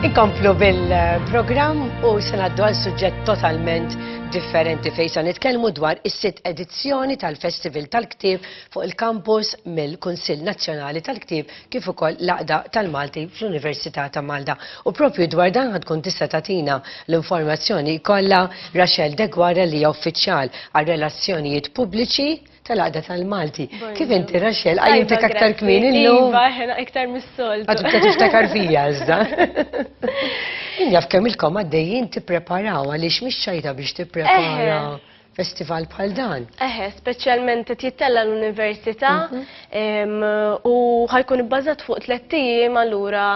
Inkomplu bil-programm u se ngħaddu għal suġġett totalment differenti fejn se nitkellmu dwar is-sitt edizzjoni tal-Festival tal-Ktieb fuq il-kampus mill-Kunsill Nazzjonali tal-Ktieb kif ukoll l-Aqda tal-Malti fl-Università ta' Malta. U propju dwar dan ħad tkun tista' tagħtina l-informazzjoni kollha Rachel Degwara li hija uffiċjal għar-relazzjonijiet pubbliċi tal-għada tal-Malti. Kif inti Raxel, għajjutek aktar kmin illum? Iva, ħena iktar mis-soltu. Għadu ta' tiftakar fija, iżda. Injaf kemm il-kom għaddejjin tippreparaw għaliex mhix ċajta biex tipprepara festival bħal dan. Eħe, speċjalment qed jittella l-università mhm. u ħajkun ibbażat fuq tliet ijiem allura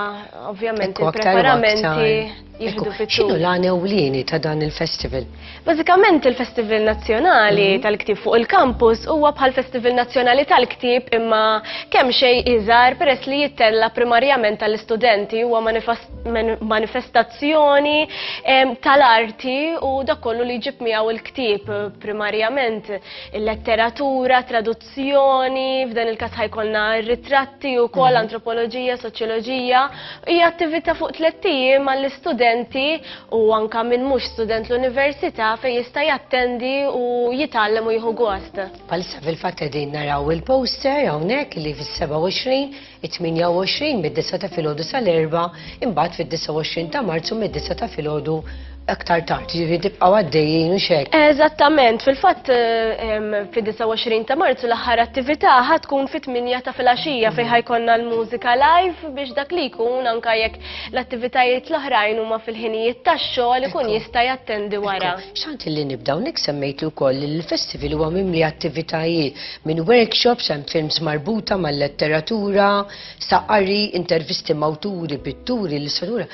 ovvjament il-preparamenti jieħdu fit X'inhu l-għan ewlieni ta' dan il-festival? Bażikament il-Festival Nazzjonali mhm. tal-Ktieb fuq il-kampus huwa bħal Festival Nazzjonali tal-Ktieb imma kemm xejn iżgħar peress li jittella primarjament tal-istudenti huwa manifestazzjoni tal-arti u dak kollu li jġib miegħu l-ktieb primarjament il-letteratura, traduzzjoni f'dan il-kas ħajkonna ritratti u kol mhm. antropoloġija, soċjoloġija, hija attività fuq tlettiji mal istudenti u anka minn mhux student l-università fejn jista' jattendi u jitgħallem u jieħu gost. Palissa fil-fatt qegħdin naraw il-poster hawnhekk li fis-27 it-28 mid-disgħa ta' filgħodu sal-erbgħa, imbagħad fid-29 ta' Marzu mid-disgħa ta' filgħodu aktar tard, ġifieri tibqgħu għaddejjin u xek. Eżattament, fil-fatt fid-29 ta' Marzu l-aħħar attività ħa tkun fit-8 ta' filgħaxija fejn ħajkonna l-mużika live biex dak li jkun anke jekk l-attivitajiet l-oħrajn huma fil-ħinijiet tax-xogħol ikun jista' jattendi wara. Xtaqt illi nibda hawnhekk semmejt li wkoll il-festival huwa mimli attivitajiet. Minn workshops hemm films marbuta mal-letteratura, sa qari, intervisti mawturi, pitturi, illustraturi.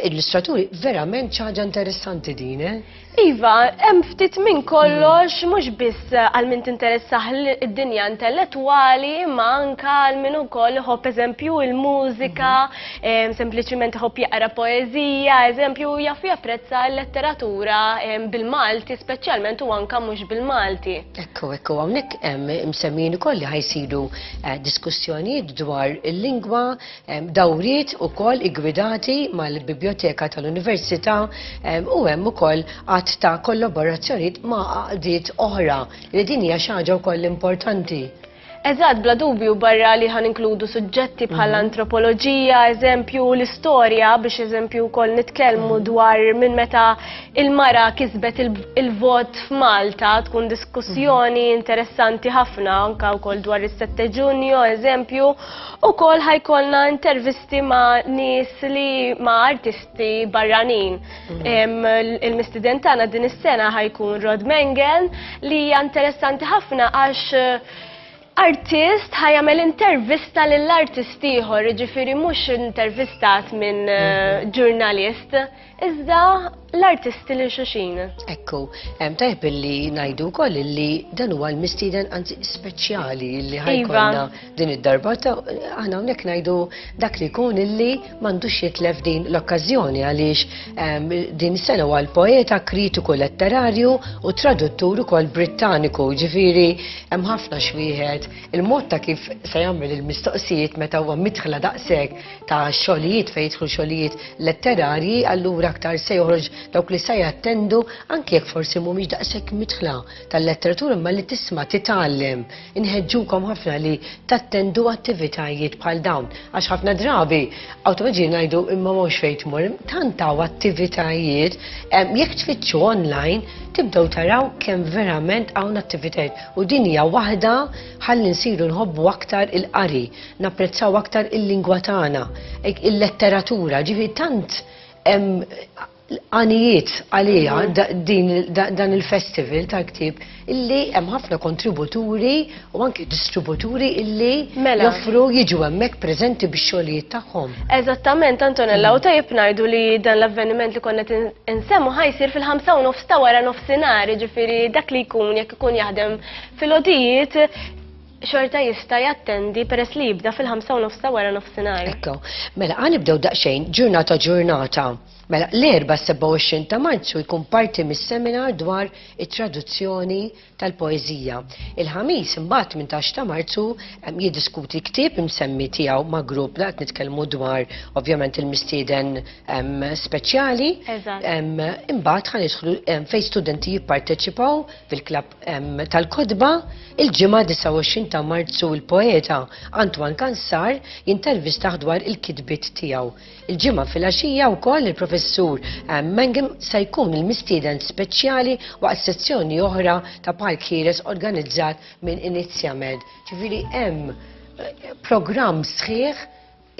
Illustraturi verament xi ħaġa interessanti din, eh? Iva, hemm ftit minn kollox mm. mhux biss għal min tinteressah id-dinja intellettwali, imma anka għal min ukoll ħobb eżempju il-mużika, mm-hmm. sempliċiment ħobb jaqra poeżija, eżempju jaf japprezza l-letteratura bil-Malti speċjalment u anka mhux bil-Malti. Ekku, ekku, għonek msemmin u koll li ħajsiru eh, diskussjonijiet dwar il-lingwa, dawriet u koll igwidati mal-Biblioteka tal-Università u hemm u koll għat ta' kollaborazzjoniet ma' għaqdiet oħra li din hija xaġa u koll importanti. Eżatt, bla dubju, barra li ħa ninkludu suġġetti bħal mhm. antropoloġija, eżempju, l-istorja, biex eżempju wkoll nitkellmu mhm. dwar minn meta il-mara kisbet il-vot f'Malta, tkun diskussjoni mhm. interessanti ħafna, anka wkoll dwar is-7 Ġunju, eżempju, ukoll ħajkolna intervisti ma' nies li ma' artisti barranin. Il-mistiden tagħna din is-sena ħajkun Rod Mengen li hija interessanti ħafna għax eh, artist ħajamel intervista lill artist ieħor, ġifiri mhux intervistat minn eh, mhm. ġurnalist, iżda l-artisti li xuxin. Ekku, hemm tajb li ngħidu wkoll li dan huwa l-mistieden anzi speċjali li iva. ħajkonna din id-darba ta' aħna hawnhekk ngħidu dak li jkun illi m'għandux jitlef din l-okkażjoni għaliex ehm, din is-sena huwa l-poeta, kritiku letterarju u traduttur ukoll Brittaniku, ġifieri hemm ħafna xwieħed il-mod ta' kif se jagħmel il-mistoqsijiet meta huwa midħla daqshekk ta' xogħlijiet fejn jidħlu xogħlijiet letterarji, allura aktar se joħroġ dawk li se jattendu anke jekk forsi mhumiex daqshekk midħla tal-letteratura imma li tisma' titgħallem Inħeġġukom ħafna li tattendu attivitajiet bħal dawn għax ħafna drabi awtomaġi ngħidu imma mhux fejn tmur, tant hawn attivitajiet jekk tfittxu online tibdew taraw kemm verament hawn attivitajiet u din hija waħda ħalli nsiru nħobbu aktar il-qari, napprezzaw aktar il-lingwa tagħna, il-letteratura, ġifieri tant l-għanijiet għaliha dan il-festival tal-ktieb illi hemm ħafna kontributuri u anke distributuri illi mela. joffru jiġu hemmhekk preżenti bix-xogħlijiet tagħhom. Eżattament Antonella, u tajjeb ngħidu li dan l-avveniment li konna insemmu ħajsir fil-ħamsa u nofs ta' wara nofsinhar, jiġifieri dak li jkun jekk ikun jaħdem fil-odijiet xorta jista' jattendi peress li jibda fil-ħamsa u nofs ta' wara nofsinhar. Ekk. Mela ħa nibdew daqsxejn ġurnata ġurnata. Mela l-Erbgħa s-27 ta' Marzu jkun parti mis-seminar dwar it-traduzzjoni tal-poeżija. Il-Ħamis imbagħad 18 ta' Marzu jiddiskuti ktieb imsemmi tiegħu ma' grupp li qed nitkellmu dwar ovvjament il-mistieden speċjali. Eżatt. Imbagħad ħa nidħlu fejn studenti jipparteċipaw fil-klabb tal-kodba il-ġimgħa 29 ta' Marzu il-poeta Antoine Kansar jintervistaħ dwar il-kitbiet tiegħu. Il-ġimgħa fil-għaxija wkoll il-professur Mangem se jkun il-mistieden speċjali waqt sezzjoni oħra ta' Park Ħieles organizzat minn Inizjamed. Ġifieri hemm eh, programm sħiħ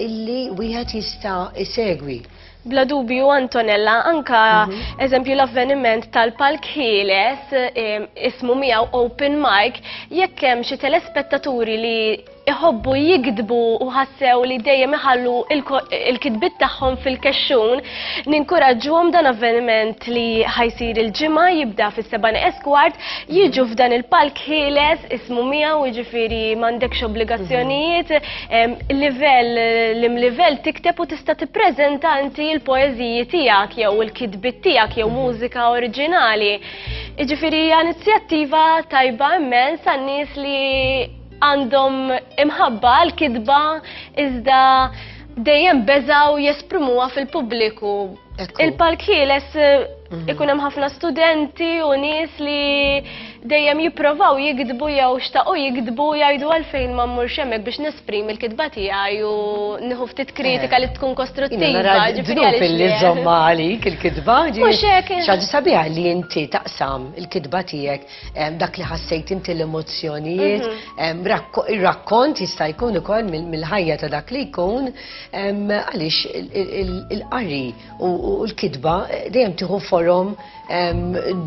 illi wieħed jista' isegwi. Bla dubju Antonella, anka mhm. eżempju l-avveniment tal-Palk Ħieles ismu miegħu Open Mic, jekk hemm xi telespettaturi li iħobbu jikdbu u ħassew li dejjem iħallu il-kitbit tagħhom fil-kexxun, ninkuraġġuhom dan avveniment li ħajsir il-ġimgħa jibda fis-seba' eskwart, jiġu f'dan il-Palk Ħieles ismu miegħu jiġifieri m'għandekx obbligazzjonijiet, Il-livell, l-imlivell tikteb u tista' tippreżenta inti l-poeżiji tiegħek jew il-kitbit tiegħek jew mużika oriġinali. Jiġifieri hija inizjattiva tajba immens għan-nies li għandhom imħabba għal kitba iżda dejjem beżaw jesprimuha fil-pubbliku Il-Park Ħieles mhm. ikun hemm ħafna studenti u nies li dejjem jipprovaw jikdbu jew xtaqu jikdbu jgħidu għalfejn ma mmurx hemmhekk biex nesprim il-kitba tiegħi u nieħu ftit eh. kritika li tkun kostruttiva. Ġifieri li żomma għalik il-kitba ġifieri. sabiħa li inti taqsam il-kitba tiegħek eh, dak li ħassejt inti l-emozzjonijiet, mhm. eh, rakkont jista' jkun ukoll mill-ħajja ta' dak li jkun Għaliex il-qari u l-kitba eh, dejjem tieħu forom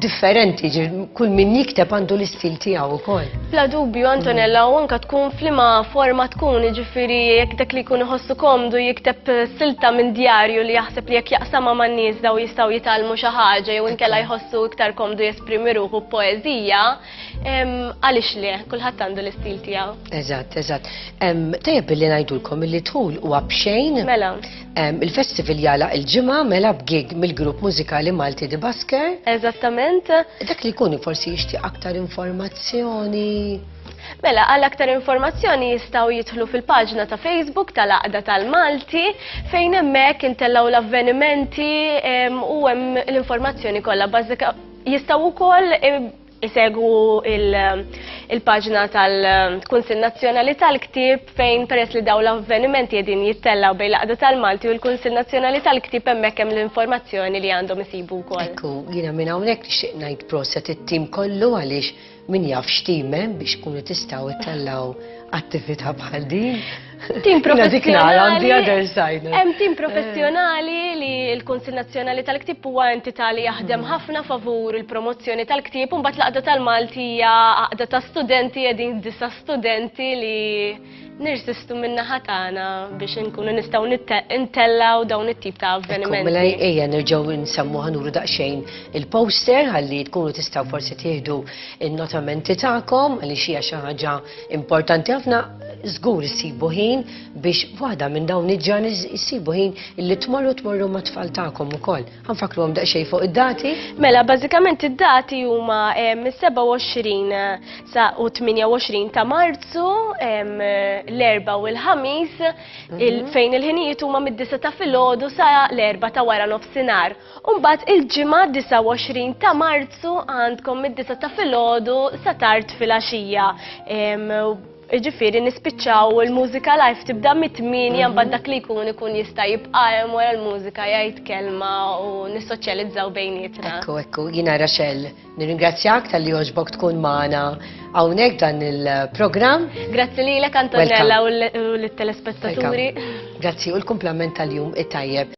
differenti, kull min jikteb għandu l-istil tiegħu wkoll. Bla dubju Antonella u anka tkun flima forma tkun, jiġifieri jekk dak li jkun iħossu komdu jikteb eh, silta minn djarju li jaħseb li jekk jaqsama man nies daw jistgħu jitalmu xi ħaġa jew inkella jħossu iktar komdu jesprimi ruħu poeżija. Għalix li, kullħat għandu l-istil tijaw. Eżat, eżat. Tajab billi najdulkom li tul u għabxejn. Mela. Il-festival jala il-ġimma mela b'gig mill-grupp mużikali Malti di Basker. Eżattament. Dak li kuni forsi jishti aktar informazzjoni. Mela, għal aktar informazzjoni jistaw jitħlu fil-paġna ta' Facebook tal-Aqda tal-Malti fejn hemmhekk intellaw l-avvenimenti u hemm l-informazzjoni kollha bażika Jistgħu wkoll isegwu il-paġna tal-Kunsill Nazzjonali tal-Ktieb fejn peress li dawn l-avvenimenti qegħdin jittellgħu bejn l-Aqda tal-Malti u l-Kunsill Nazzjonali tal-Ktieb hemmhekk hemm l-informazzjoni li għandhom isibu wkoll. Ekku, jiena minn hawnhekk nixtieq ngħid proset it-tim kollu għaliex Min jaf x'timem biex tkunu tistgħu ittellgħu attività bħal din. Tim professjonali. Hemm tim professjonali li l-Kunsill Nazzjonali tal-Ktib huwa entità li jaħdem mm. ħafna favur il-promozzjoni tal-ktib u mbagħad l-qaqda tal-Malti hija qaqda ta' studenti qegħdin disa' studenti li nirsistu minna ħatana biex nkunu nistaw ntellaw dawn it-tip ta' avvenimenti. Mela ejja nerġaw nsemmu ħanuru daqxejn il-poster għalli tkunu tistaw forsi tieħdu il-notamenti ta'kom għalli xija xi ħaġa importanti ħafna żgur issibu ħin biex waħda minn dawn iġġan issibu ħin illi tmorru tmorru ma' tfal tagħkom ukoll. Għanfakruhom daqsxejn fuq id-dati? Mela, bażikament id-dati huma mis-27 sa u 28 ta' Marzu, l-erba u l-ħamis, mhm. fejn il-ħinijiet huma mid-disa ta' filgħodu sa l-erba ta' wara nofsinhar. Umbagħad il-ġimgħa 29 ta' Marzu għandkom mid-disa ta' filgħodu sa tard filgħaxija. Jiġifieri nispiċċaw u l-mużika live tibda mit-tmienja mbagħad mhm. dak li jkun ikun jista' jibqa' hemm wara l-mużika jgħid kelma u nissoċjalizzaw bejnietna. Ekku, ekku, jiena Raxel, nirringrazzjak tal-li għoġbok tkun magħna hawnhekk dan il-programm. Grazzi lilek Antonella u l-telespettaturi. Grazzi u l-kumplament tal-jum it-tajjeb.